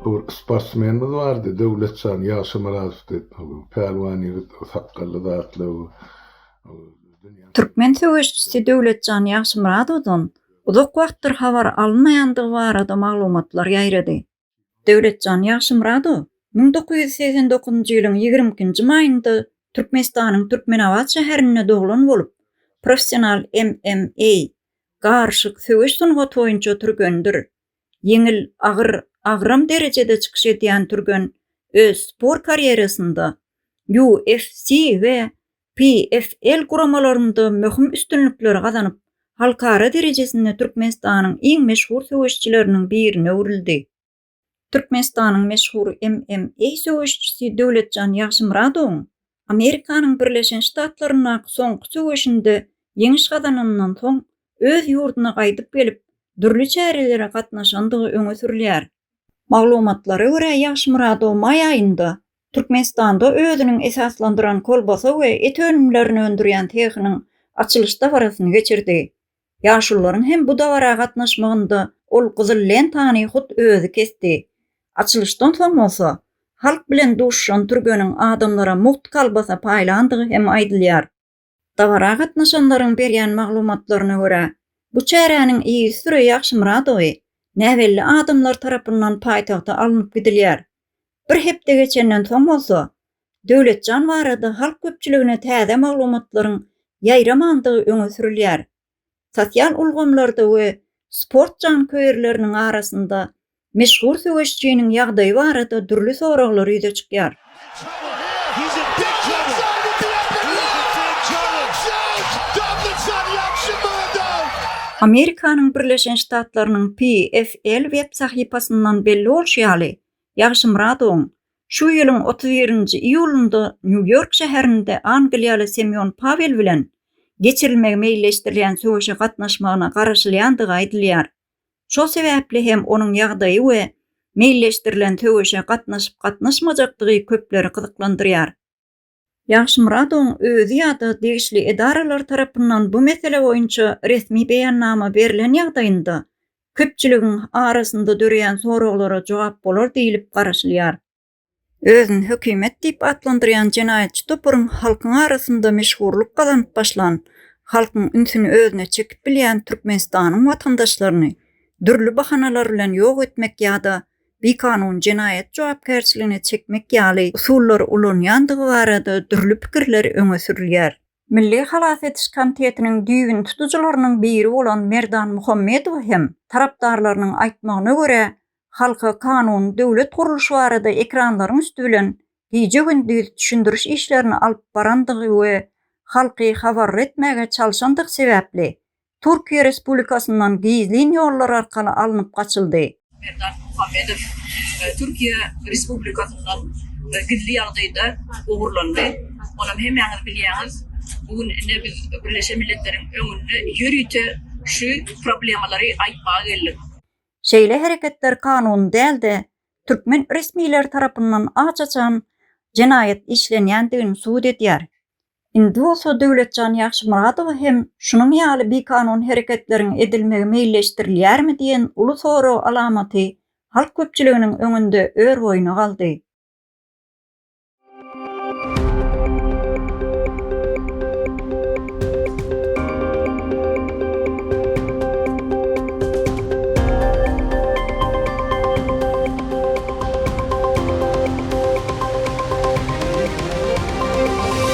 Bu sportsmenimiz bardy, Döwletjan Ýagşymyradow diýip, pälwan ýigit, sakgally zatly. Türkmen söweşçisi Döwletjan Ýagşymyradowdan uzak wagtdyr habar alynmaýandygy barada maglumatlar ýaýrady. Döwletjan Ýagşymyradow müň dokuz ýüz segsen dokuzynjy ýylyň ýigrimi ikinji maýynda Türkmenistanyň Türkmenabat şäherinde doglan bolup, professional MMA, garyşyk söweş sungaty boýunça türgendir. Ýeňil, agyr, agram derejede çykyş edýän türgen öz sport karýerasynda UFC we PFL guramalarynda möhüm üstünlikleri gazanyp, halkara derejesinde Türkmenistanyň iň meşhur söweşçileriniň birine öwrüldi. Türkmenistanyň meşhur MMA söweşçisi Döwletjan Ýagşymyradowyň Amerikanyň Birleşen Ştatlaryndaky soňky söweşinde ýeňiş gazananyndan soň öz ýurduna gaýdyp gelip, dürli çärelere gatnaşandygy öňe sürülýär. Maglumatlara görä, Ýagşymyradow maý aýynda Türkmenistanda özüniň esaslandyran kolbasa we et önümlerini öndürýän sehiniň açylyş dabarasyny geçirdi. Ýaşulularyň hem bu dabara gatnaşmagynda ol gyzyl lentany hut özi kesdi. Açylyşdan soň bolsa, halk bilen duşuşan türgeniň adamlara mugt kolbasa paýlandygy hem aýdylýar. Dabara gatnaşanlaryň berýän maglumatlaryna görä, bu çäräniň yzysüre Ýagşymyradowy näbelli adamlar tarapyndan paýtagta alnyp gidilýär. Bir hepde geçenden soň bolsa, Döwletjan barada halk köpçüligine täze maglumatlaryň ýaýramandygy öňe sürülýär. Sosial ulgamlarda we sport janköýerleriniň arasynda meşhur söweşçiniň ýagdaýy barada dürli soraglar ýüze çykýar. Amerikanyň Birleşen Ştatlarynyň PFL web sahypasyndan belli bolşy ýaly, Ýagşymyradowyň Şu ýylyň otuz birinji iýulynda Nýu-Ýork şäherinde angliýaly Semýon Pawel bilen geçirilmegi meýilleşdirilýän söweşe gatnaşmagyna garaşylýandygy aýdylýar. Şol sebäpli hem onuň ýagdaýy we meýilleşdirilen söweşe gatnaşyp-gatnaşmajakdygy köpleri gyzyklandyrýar. Ýagşymyradowyň özi ýa-da degişli edaralar tarapyndan bu mesele boýunça resmi beýannama berlen ýagdaýynda, köpçüligiň arasynda döreýän soraglara jogap bolar diýlip garaşylýar. Özüni hökümet diýip atlandyrýan jenaýatçy toparyň halkyň arasynda meşhurlyk gazanyp başlan, halkyň ünsüni özüne çekip bilýän Türkmenistanyň watandaşlaryny dürli bahanalar bilen ýok etmek ýa-da bikanun jenaýat jogapkärçiligine çekmek ýaly usullary ulanýandygy barada dürli pikirler öňe sürülýär. Milli halas ediş komitetiniň düýbüni tutujylarynyň biri bolan Merdan Muhammedow hem, tarapdarlarynyň aýtmagyna görä, halka kanuny döwlet gurluşy barada ekranlaryň üsti bilen gije-gündiz düşündiriş işlerini alyp barandygy we halky habarly etmäge çalşandygy sebäpli, Türkiýe Respublikasyndan gizlin ýollar arkaly alnyp gaçyldy. Merdan Muhammedow Türkiýe Respublikasyndan gizli ýagdaýda ogurlandy. Onam hemmäňiz bilýäňiz, bu gün ine biz Birleşen Milletleriň öňünde ýörite şu problemalary aýtmaga geldik. Şeýle hereketler kanuny däl-de, türkmen resmileri tarapyndan aç-açan jenaýat işlenýändigini subut edýär. Indi bolsa Döwletjan Ýagşymyradowa hem şunuň ýaly bikanun hereketleriň edilmegi meýilleşdirilýärmi diýen uly sorag alamaty halk köpçüliginiň öňünde örboýuna galdy.